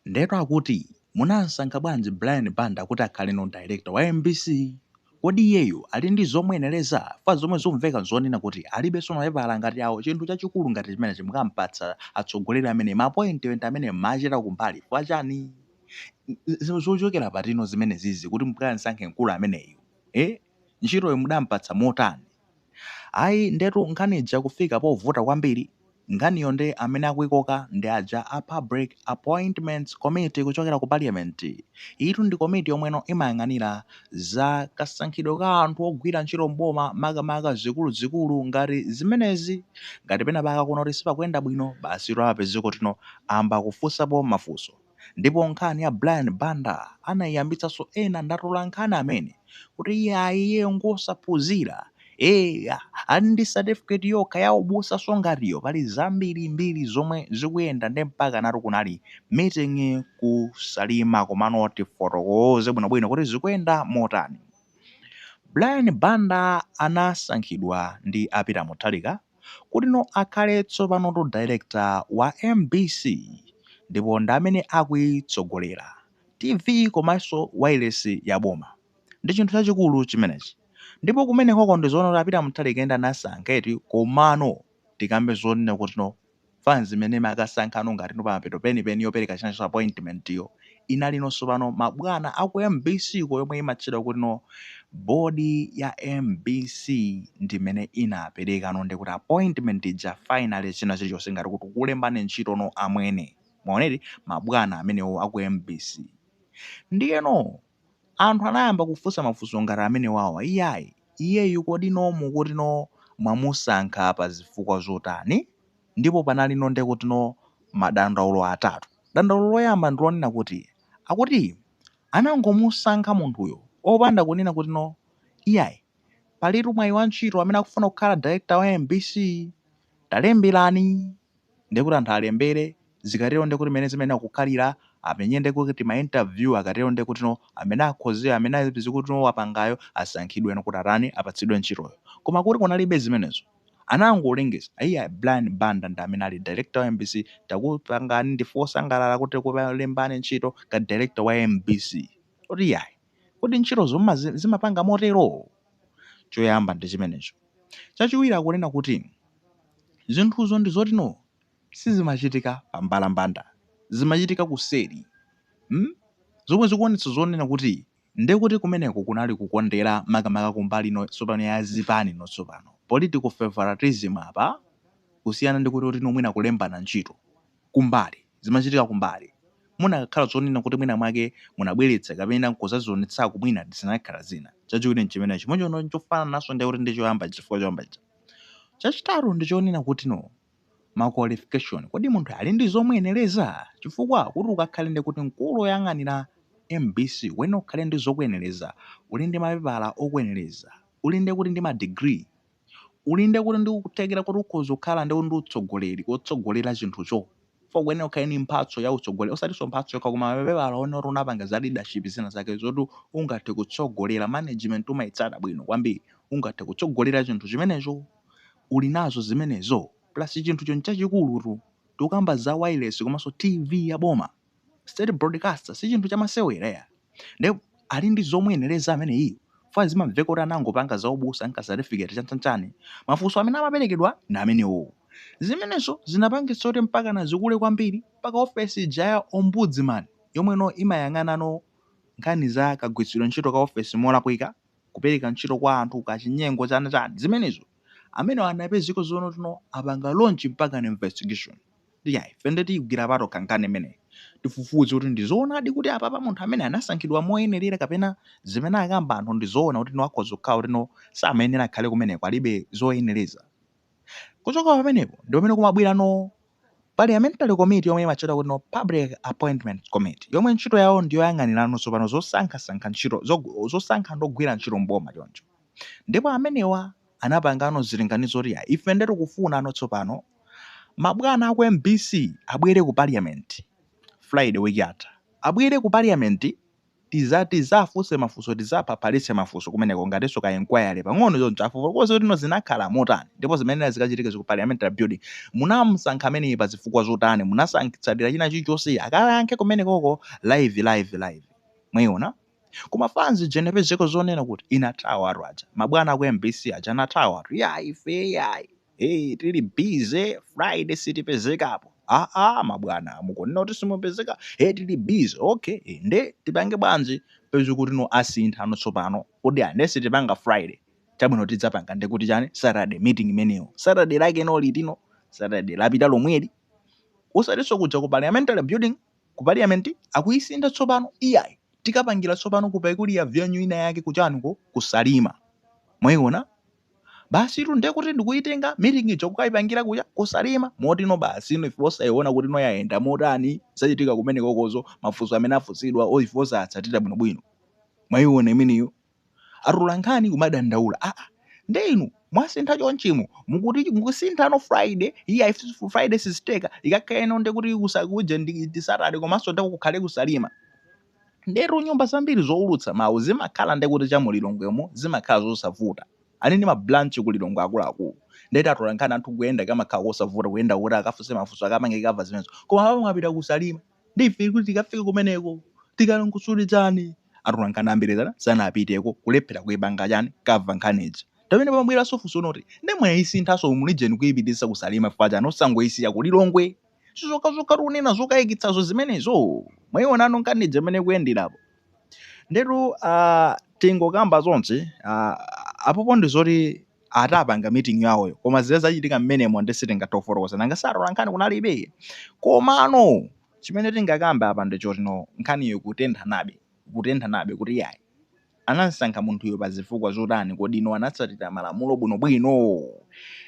Ndetu akuti munamusankha bwanji Brian Banda kuti akhaleno director wa mbc? Kodi iyeyu ali ndi zomuyenereza? Chifukwa zomwe zikuveka nzonena kuti alibenso mapepala ngati awo chinthu chachikulu ngati chimenechi mukampatsa atsogoleri amenewa ma appointment amene mumachita kumbali chifukwa chani? Zochokera patipo zimenezizi kuti mkansankhe mkulu ameneyu? Eh? ntchitoyo mudampatsa motani? Ayi, ndetu nkhani ija kufika povuta kwambiri, nkhaniyo nde amene akuikoka ndi aja a Public Appointments Committee kuchokera ku Parliament. Iyitu ndi komiti yomweno imayang'anira za kasankhidwe ka anthu ogwira ntchito m'boma makamaka zikuluzikulu ngati zimenezi. Ngati penapake akuona kuti sipakuyenda bwino, basitu amapezeka kutino ayamba kufunsapo mafunso. Ndipo nkhani ya Brian Banda anaiyambitsanso ena atolankhani amene kuti iyayi iyeyo ngosaphunzira, eya ali ndi certificate yokha ya ubusa so ngati iyo pali zambirimbiri zomwe zikuyenda nde mpakanatu kunali meeting ku Salima komano tifotokoze bwinobwino kuti zikuyenda motani. Brian Banda anasankhidwa ndi a Peter Mutharika. kutino akhale tsopanotu director wa mbc ndipo ndi amene akuitsogolera tv komanso wailesi ya boma ndi chinthu chachikulu chimenechi ndipo kumenekoko ndizoona kuti a Peter Mutharika ndi amene anasankha eti komano tikambe zonena kutino Mfunzi imene imakasankhano ngati no pamapeto penipeni yopereka chinanso appointment yo inali no sopano ma bwana aku mbc ko yomwe imatchedwa kuti no board ya mbc ndimene inapereka no ndekuti appointment ija finally china chilichonse ngati kuti takulembani ntchito no amwene mwaona eti ma bwana amenewo aku mbc ndiyeno Anthu anayamba kufunsa mafunso ngati amenewawa iyayi iyeyu kodi no mukuti no mwamusankha pa zifukwa zotani? Ndipo panali no nde kuti no madandaulo atatu. Dandaulo loyamba ndi lonena kuti akuti anangomusankha munthuyo opanda kunena kuti no iyayi palitu mwayi wa ntchito amene akufuna kukhala director wa mbc talemberani. ndiye kuti anthu alembere, zikatero ndiye kuti mmene zimayenera kukhalira, amenye ndiye kuti ma interview, akatero ndiye kutino amene akhozewo, amene aziti kutino wapangayo asankhidweno kuti atani, apatsidwe ntchitoyo. Koma kuti kunalibe zimenezo. Anangolengeza, iyayi, Brian Banda ndi amene ali director wa mbc, takupangani, ndife osangalala kuti takulembani ntchito ngati director wa mbc. Kuti iyayi. Kodi ntchitozo zimapanga motero? Choyamba ndi chimenecho. Chachiwiri akunena kuti zinthuzo ndi zoti no sizimachitika pa mbalambanda, zimachitika kuseri. Hmm? Zomwe zikuonetsa zonena kuti nde kuti kumeneko kunali kukondera makamaka kumbali no tsopano ya zipani no tsopano, political favoritism apa kusiyana ndi kuti kuti no mwina kulembana ntchito kumbali. zimachitika kumbali, munakakhala zoonena kuti mwinamwake munabweretsa kapena nkudzazionetsako mwina zikanakhala zina. Chachiwiri nchimene chimodzimodzi chofanananso ndi kuti ndi choyamba chifukwa choyamba chija. Chachitatu ndi chonena kutino ma qualification, kodi munthu ali ndi zomuyenereza? Chifukwa kuti ukakhale ndi kuti mkulu woyang'anira mbc kuyenera ukhale ndi zokuyenereza, uli ndi mapepala okuyenereza, uli ndi kuti ndi ma degree, Uli ndi kuti ndi kuthekera kuti ukhoza kukhala ndi ndi utsogoleri kotsogolera chinthucho chifukwa ukuyenera ukhale ndi mphatso ya utsogoleri osatinso mphatso yokha koma mapepala onena oti unapanga za leadership zina zake zoti ungathe kutsogolera management umayitsata bwino kwambiri ungathe kutsogolera chinthu chimenecho uli nazo zimenezo plus chinthucho nchachikulutu tikukamba za wireless komanso TV ya boma state broadcaster si chinthu chamasewera ndipo ali ndi zomuyenereza ameneyi fwa zimamveka kuti anangopanga za ubusa nka certificate chanchanchani mafunso amene amaperekedwa na amenewo zimenezo zinapangitsa kuti mpakana zikule kwambiri mpaka ofesi ija ya ombudsman yomweno imayang'anano nkhani za kagwiritsidwe ntchito ka ofesi molakwika kupereka ntchito kwa anthu kachinyengo chana chani zimenezo amenewa anapezeka zoona kutino apanga launch mpakana investigation iyayi ife nde tiyigwira patokha nkhani imeneyi tifufuze kuti ndi zoonadi kuti apapa munthu amene anasankhidwa moyenerera kapena zimene akamba anthu ndi zoona kuti no akhoza kukhala kutino samayenera akhale kumeneko alibe zoyenereza kuchoka pamenepo ndi pamene kumabwerano Parliamentary committee yomwe imatchedwa kutino Public Appointments Committee yomwe ntchito yawo ndi yoyang'anirano tsopano zosankha sankha ntchito zosankha anthu ogwira ntchito m'boma choncho ndipo amenewa anapangano zilinganizo kuti iyayi ife nde tikufunano tsopano mabwana aku mbc abwere ku Parliament Friday week yatha abwere ku Parliament Tiza tizafunse mafunso tizaphaphalitse mafunso kumeneko ngatinso ka enquiry pang'ono choncho afotokoze kutino zinakhala motani ndipo zimene zikachitikezi ku parliamentary building munamusankha ameneyi pa zifukwa zotani munatsatira china chilichonse akayankhe kumenekoko live live live mwaiona koma fans ija inapezeka zonena kuti inathawa anthu aja mabwana aku mbc aja anathawatu yayi ife yayi Hey, tili busy Friday sitipezekapo. Ah ah mabwana mukunena kuti simupezeka. Hey, tili busy. Okay, eh, nde tipange bwanji peza kutino asinthano tsopano. Kodi ah, nde sitipanga Friday. Chabwino tidzapanga ndi kuti chani Saturday meeting imeneyo. Saturday lakeno litino. Saturday lapita lomweli. Osatinso kuja ku parliamentary building ku parliament akuyisintha tsopano. Iyayi tikapangira tsopano kupaikuli ya venue ina yake kuchaniko ku Salima. Mwayiona? Basitu nde kuti ndikuitenga meeting ija kukaipangira kuja ku Salima moti no basi ino ife osaiona kuti no yaenda motani zachitika kumenekokozo mafunso amene afunsidwa or ife osatsatira bwinobwino mwaiona imeneyo atolankhani kumadandaula aa nde inu mwasintha chonchimo mukuti mukusinthano Friday iyayi Friday sizitheka ikakhaleno nde kuti kusa kuja ndi ndi Saturday komanso nde kukhale ku Salima Ndetu nyumba zambiri zoulutsa mawu zimakhala nde kuti cha mu Lilongwemo zimakhala zosavuta. Ali ndi ma branch ku Lilongwe akuluakulu. Ndeti atolankhani anthu kuyenda kumakhala kosavuta kuyenda kuti akafunse mafunso akapange cover zimenezo. Koma apa mwapita ku Salima. Nde ife kuti tikafike kumeneko tikalongosote chani? Atolankhani ambiri sanapiteko kulephera kuipanga chani cover nkhani ija. Pamene pamabweranso funso loti nde mwaisinthanso mu region kuipititsa ku Salima chifukwa chani osangoisiya ku Lilongwe? sizokhazokhatu kunena zokayikitsazo zimenezo mwayiona ano nkhani ija imene kuyenderapo ndetu uh, tingokamba zonse uh, apopo ndi zoti atapanga meeting yawoyo koma zile zachitika mmenemo nde sitingathe kufotokoza nanga si atolankhani kunalibe komano chimene tingakambe apa ndi choti no nkhaniyo kutentha nabe kutentha nabe kuti yayi Anamsankha munthuyo pa zifukwa zotani? Kodi no anatsatira malamulo bwinobwino?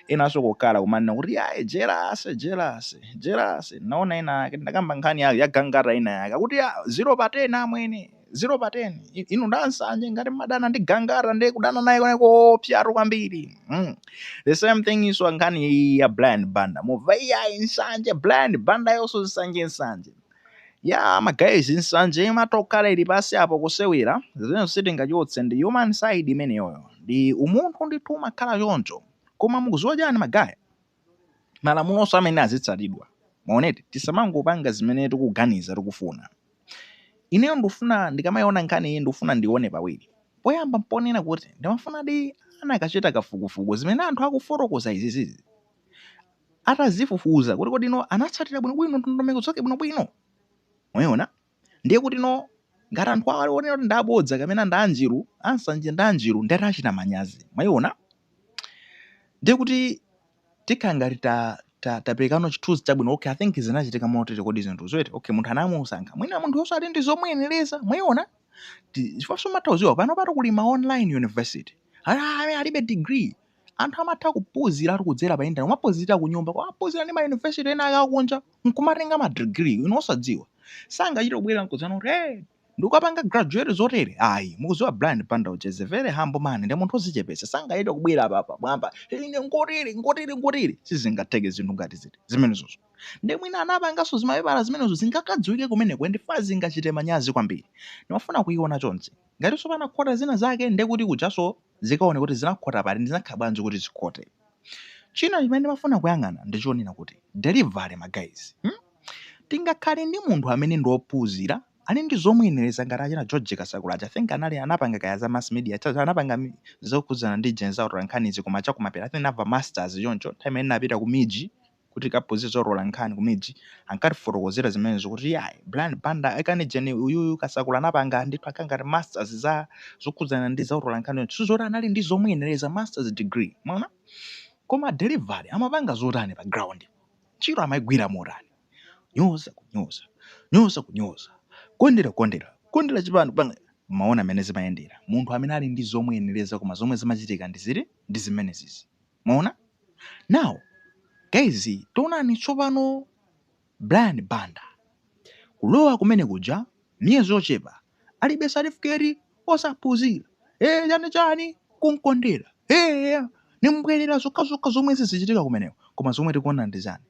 Enanso kokhala kumanena kuti yayi jelasi, jelasi, jelasi. Ndinaona ina yake, ndinakamba nkhani ya ya gangata ina yake, akuti ya zero pa ten amwene, zero pa ten. I- Inu nd'ansanje ngati mmadana ndi gangata ndiye kudana naye kokoopsatu kwambiri. Mm. The same thing iyinso nkhani iyi ya Brian Banda. Mumva iyayi nsanje Brian Banda uyonso nsanje nsanje. Yaa ma guys nsanje imatokhala ili pansi apo kusewera zimenezo sitingachotse ndi human side imeneyoyo ndi umunthu ndithu umakhala choncho koma mukuziwa chani ma guys malamulonso awa mene azitsatidwa mwaona eti tisamangopanga zimene tikuganiza tikufuna ineyo ndikufuna ndikamayiona nkhani iyi ndikufuna ndione pawiri poyamba mponena kuti ndimafunadi anakachita kafukufuku zimene anthu akufotokoza izizizi atazifufuza kuti kodi no anatsatira bwinobwino ndondomeko zake bwinobwino mwayiona ndiye kuti no ngati anthu awo aliwonena kuti ndabodza kapena ndanjiru ansanje ndanjiru nde atachita manyazi mwayiona ndiye kuti tikhala ngati ta ta- taperekano chithunzi chabwino okay i think zinachitika motere kodi zinthu zotere okay munthu anamusankha mwina munthuyonso ali ndi zomuyenereza mwayiona Ti- chifukwa nso matha kudziwa panopatu kuli ma online university amene alibe degree Anthu amatha kuphuziratu kudzera pa internet, kumaphuzira kunyumba, kumaphuzira ndi ma university ena ake akunja, nkumatenga ma degree inu osadziwa. Sangachite kubwera nkudzanena kuti hey! Ndikapanga graduate zotere ayi. Mukudziwa Brian Banda uja is a very humble man, ndi munthu ozichepetsa. Sangachite kubwera apa pa mwamba hey! Ine nkotere, nkotere, nkotere. Sizingatheke zinthu ngati ziti zimenezozo. Nde mwina anapanganso zimapepala zimenezo zingakadziwike kumeneko ndikufuna zingachite manyazi kwambiri. Ndimafuna kuiona chonchi. Ngatinso panakhota zina zake ndiye kuti kujanso zikaoneke kuti zinakhota pati ndipo zinakhala bwanji kuti zikhote. China chimene ndimafuna kuyang'ana ndi chonena kuti delivery ma guys hmm? Tingakhale ndi munthu amene ndi ophunzira ali ndi zomuyenereza ngati achina George Kasakula aja I think ali anapanga kaya za mass media cha- cha- anapanga mi- zokhudzana ndi jeni zautolankhanizi koma chakumapeto I think anachita masters choncho nthawi imene ndinapita ku MIJ kukaphunzira zotola nkhani ku MIJ ankatifotokozera zimenezo kuti iyayi Brian Banda akane jeni uyuyu Kasakula anapanga ndithu akhala ngati masters za zokhudzana ndi za utolankhani yonse nzoti anali ndi zomuyenereza masters degree mwaona koma delivery amapanga zotani pa ground ntchito amaigwira motani nyoza kunyoza nyoza kunyoza kondera kukondera kondera chipani kupanga mwaona mmene zimayendera munthu amene ali ndi zomuyenereza koma zomwe zimachitika ndi ziti ndi zimenezizi Mwaona? Now, guys, taonani tsopano Brian Banda kulowa kumene kuja miyezi yochepa alibe certificate osaphunzira eh chani chani kunkondera eh nimbwerera zokhazokha zomwe zizichitika kumeneko koma zomwe tikuona ndi chani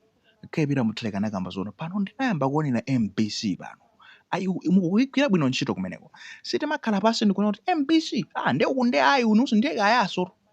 APM Mutharika anakamba zoona pano ndinayamba kuonera mbc pano ayi mukugwira bwino ntchito kumeneko sitimakhala pansi ndikuona kuti mbc ah nde uku nde ayi ulusu ndiye kayaso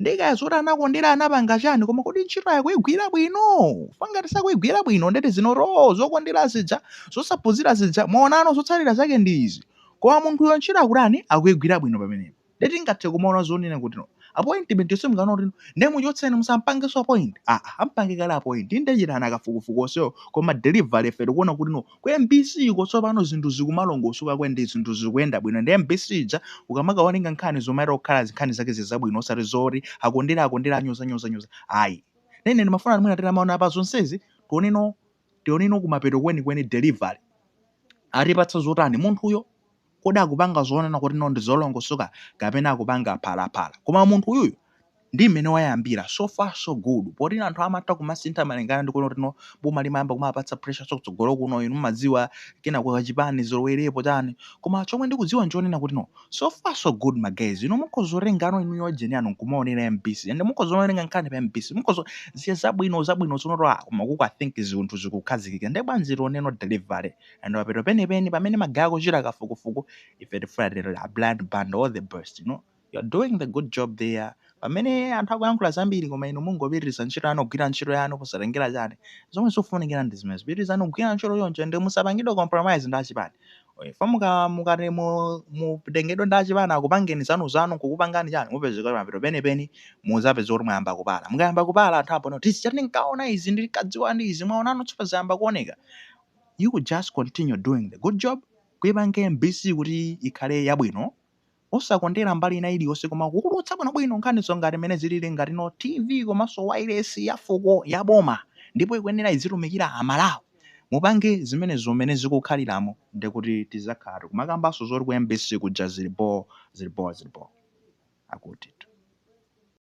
ndiye kaya zoti anakondera anapanga chani koma kodi ntchito akuigwira bwino fa ngati sakuigwira bwino ndeti zinoo zokondera zija zosaphunzira zija mwaonano zotsatira zake ndi izi koma munthuyo ntchito akutani akuigwira bwino pamenepo ndeti tingathe kumaona zonena kuti no appointment yonse mukanaona kuti no ndiye muchotseni musampangenso appoint aa ampange kale appoint ndechitana kafukufuku onsewo koma delivery ife tikuona kuti no Ku mbc ko tsopano zinthu zikumalongosoka ko ende zinthu zikuyenda bwino ende mbc ija akamakawerenga nkhani zumachita kukhala nkhani zake zili zabwino osati zoti akondera akondera anyoza nyoza nyoza ayi nde ine ndimafuna mwina titamaona pa zonsezi tione no tione no kumapeto kwenikweni delivery atipatsa zotani munthuyo Kodi akupanga zonena kuti no ndizolongosoka kapena akupanga phalaphala? Koma munthu uyuyu ndi mmene wayambira so far so good poti anthu amatha kumasintha malingana ndi kuona kuti no boma limayamba kumawapatsa pressure so kutsogolo uko inu mumadziwa kenako achipani alowererepo chani koma chomwe ndikudziwa nchonena kuti no so far so good ma guys inu mukhoza kutengano inuyo jeni yanu nkumaonera mbc and mukhoza kumawerenga nkhani pa mbc mukhoza kuziona zabwino zabwino tsono aa koma uku I think zinthu zikukhazikika nde bwanji tioneno delivery and mapeto penipeni pamene mukaya kuchita kafukufuku ife tifuna titero a Brian Banda all the best you know you're doing the good job there pamene anthu akuyankhula zambiri koma inu mungopitiriza ntchito yanu kugwira ntchito yanu osatengera chani zomwe zikufunikira ndi zimenezo pitirizani kugwira ntchito yonse ndi musapangidwe compromise ndi achipani fa muka mukati mu- mutengedwe ndi achipani akupangeni zawo zawo kukupangani chani mupezeka mapeto penipeni muzapeza kuti mwayamba kupala mukayamba kupala anthu aponso tizidzati ndinkaona izi ndinkadziwa ndi izi mwaonano tsopano zayamba kuoneka you could just continue doing the good job kuipange mbc kuti ikhale yabwino osakondera mbali ina iliyonse koma kuulutsa bwinobwino nkhanizo ngati mmene zilili ngati no tv komanso wailesi ya fuko ya boma ndipo ikuyenera izitumikira amalawi mupange zimene mmene zikukhaliramo ndi kuti tizakhala tikumakambanso zoti ku mbc kuja zili boo zili boo zili boo akutitu